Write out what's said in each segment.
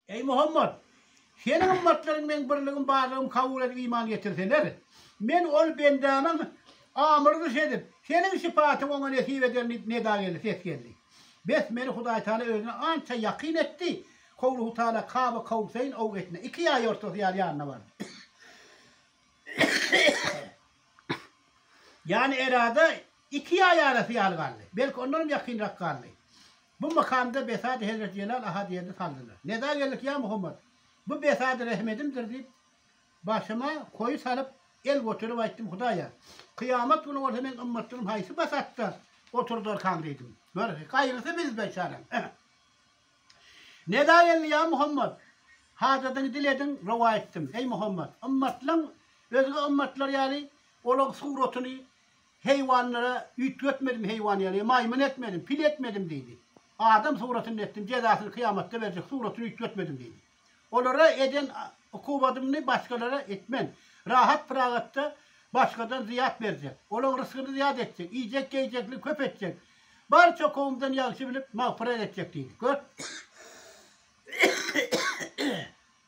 Eý Muhammad! Seniň ymmatlaryň Meň birligim barlygymy kabul edip iman getirseler, Men ol bendämiň amyrdyş edip, seniň şypatyň oňa nesip ederin diýip neda geldi, ses geldi. Bes, meni Hudaýtagala Özüne ança ýakyn etdi, howluhutala Kaba Kowseýn ow etine, iki ýaý ortasy ýaly ýanyna bardy. Ýany erada iki ýaý arasy ýaly galdy. Belki ondanam ýakynrak galdy. Bu makamda Besady hezreti Jelal Ahadyýerdi saldylar. Neda geldik, ýa Muhammet! Bu Besady rehmedimdir, diýip, başyma koýy salyp, el göterip aýtdym. Hudaýa, kyýamat güni bolsa meň ymmatlarym haýsy Besatda oturdarkaň? diýdim. Gör, gaýrysy biz beçaram. Neda geldi, ýa Muhammet! Hajadyňy dile ediň, rowa etdim. Eý, Muhammet! Ymmatlaň özge ymmatlar ýaly olaň suratyny Heýwanlara üýtgetmedim heýwan ýaly, maýmyn etmedim, pil etmedim diýdi. Adam suratynda etdim, jezasyny kyýamatda berjek, suratyny üýtgetmedim diýdi. Olara eden ukubadymny başgalara etmen. Rahat-pyragatda başgadan zyýat berjek. Olaň rysgyny zyýat etjek, iýjek-geýjekligi köp etjek. Barça kowumdan ýagşy bilip, magfyrat etjek diýdi. Gör!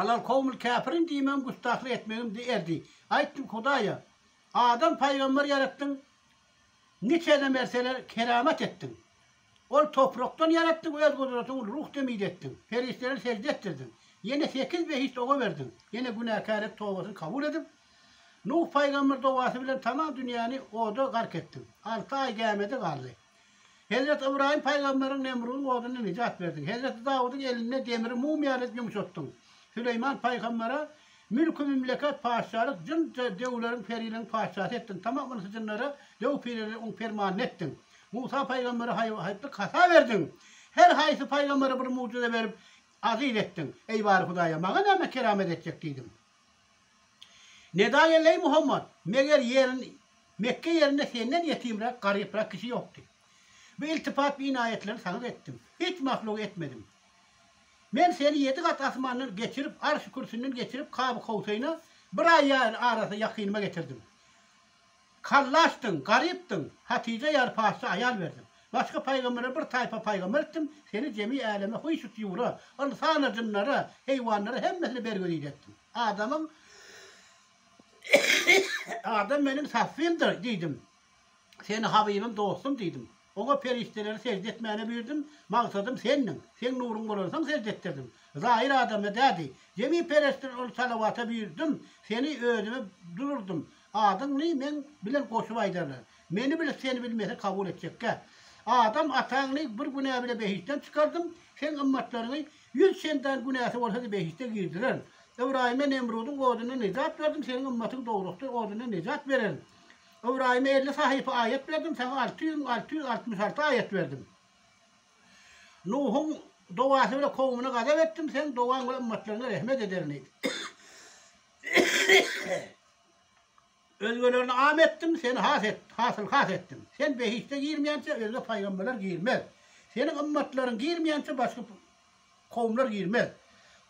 Alal kowmul käpirin diýmegim gustahlyk etmegim di erdi. Aýtdym Hudaýa, Adam paýgamber ýaratdyň, niçene merseler keramat etdiň. Ol toprakdan ýaratdyň, öz gudratyň ul ruh demide etdiň. Perişdeler sežde etdirdiň. Ýene sekiz behişt oga berdiň. Ýene günäkär et tobasyny kabul edip, Nuh paýgamber dowasy bilen tamam dünýäni oda gark etdiň. Alty aý gämede galdy. Hezreti Ybraýym pygamberiň Nemrudyň oduny nijat berdiň. Hezreti Dawudyň elinde demiri mumyýa dek ýumşatdyň. Süleýman pygambere mülki mümleket, patyşalyk, jyn döwleriň, periligiň patyşasy etdiň. Tamam ynsa jynlara döw pireleri oň permanyny etdiň. Musa pygambere haýyp-haýyplyk hata berdiň. Her haýsy pygambere bir mugjyza berip, aziz etdiň. Eý bary Hudaýa, maňa näme keramet etjek diýdiň. Nedalýa Leý Muhammad, Meger ýerin, Mekge ýerinde senden ýetimräk, garyprak kişi ýokdy. Bu iltifat, bu inaýetleri saňa etdim. Hiç mahluga etmedim. Men seni ýedi gat asmandan geçirip, Arşy-Kürsinden geçirip, Kaby-Kowsaýna bir aý ýaýly arasy ýakynyma getirdim. Kallaşdyň, garypdyň, Hatyja ýaly paksy aýal berdim. Başga pygambere bir taýpa pygamber etdim, seni jemi äleme huýsy-tuýura, ynsana, jynlara, heýwanlara hemmesine bergüzide etdim. Adamyň Adam meniň saffymdyr diýdim. Seni habybym, dostum diýdim. Oňa perişdeleri sežde etmäne buyurdym, magsadym Sendiň, Seň nuruň bolansoň sežde etdirdim. Zahir adamda dädi, jemi perişdeler ol salawata buyurdym, Seni özüme dururdym, adyňny meň bilen goşup aýdarlar. Meni bilip Seni bilmese kabul etjekkä? Adam ataňny bir günä bile behiştden çykardym, Seň ymmatlaryňy ýüz çendan günäsi bolsady behişde girdirerin. Ybraýyma Nemrudyň odundan nejat berdim, Seniň ymmatyň dowrakdyr odundan nejat bererin. Ybraýyma elli sahypa aýat berdim, saňa alty ýüz, alty ýüz altmyş alty aýat berdim. Nuhuň dowasy bilen kowumyna gazap etdim, seň dowaň bilen ümmetlerine rehmet ederin diýdi. Özgelerini am etdim, seni has et, hasyl has etdim. Sen behişde girmeýänçä özge paýgamberler girmez. Seniň ümmetleriň girmeýänçä başga Kowumlar girmez.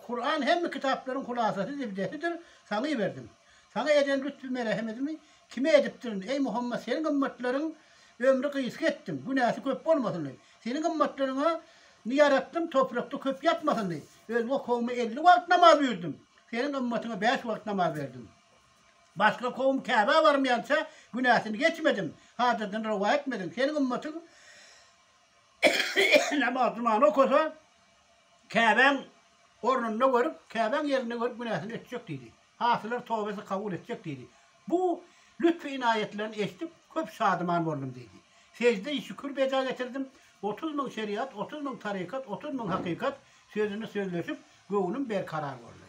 Kuran hemme kitaplaryň hulasasy zebidesidir, saňa iberdim. Saňa eden lütfü-merehemedimi kime edipdirin, eý Muhammet, seniň ymmatlaryň ömri gysga etdim, günäsi köp bolmasyn diýip. Seniň ymmatlaryňa ny ýaratdym, toprakda köp ýatmasyn diýip. Özge kowuma elli wagt namaz buýurdym, seniň ymmatyňa bäş wagt namaz berdim. Başga kowum Käbä barmaýança günäsini geçmedim, hajatynyrwa etmedim. Seniň ymmatyň. Namaz jumany okasa, Käbäň ornunda görüp, Käbäň ýerinde görüp günäsini ötjek diýdi. Hasylar tobasy kabul etjek diýdi. Bu lütfü-ynaýatlaryny eşdip, köp şadyman boldum diýdi. Sejde-i şükür beja getirdim. Otuz müň şeriat, otuz müň tarykat, otuz müň hakykat sözüni sözleşip, göwnüm berkarar boldy.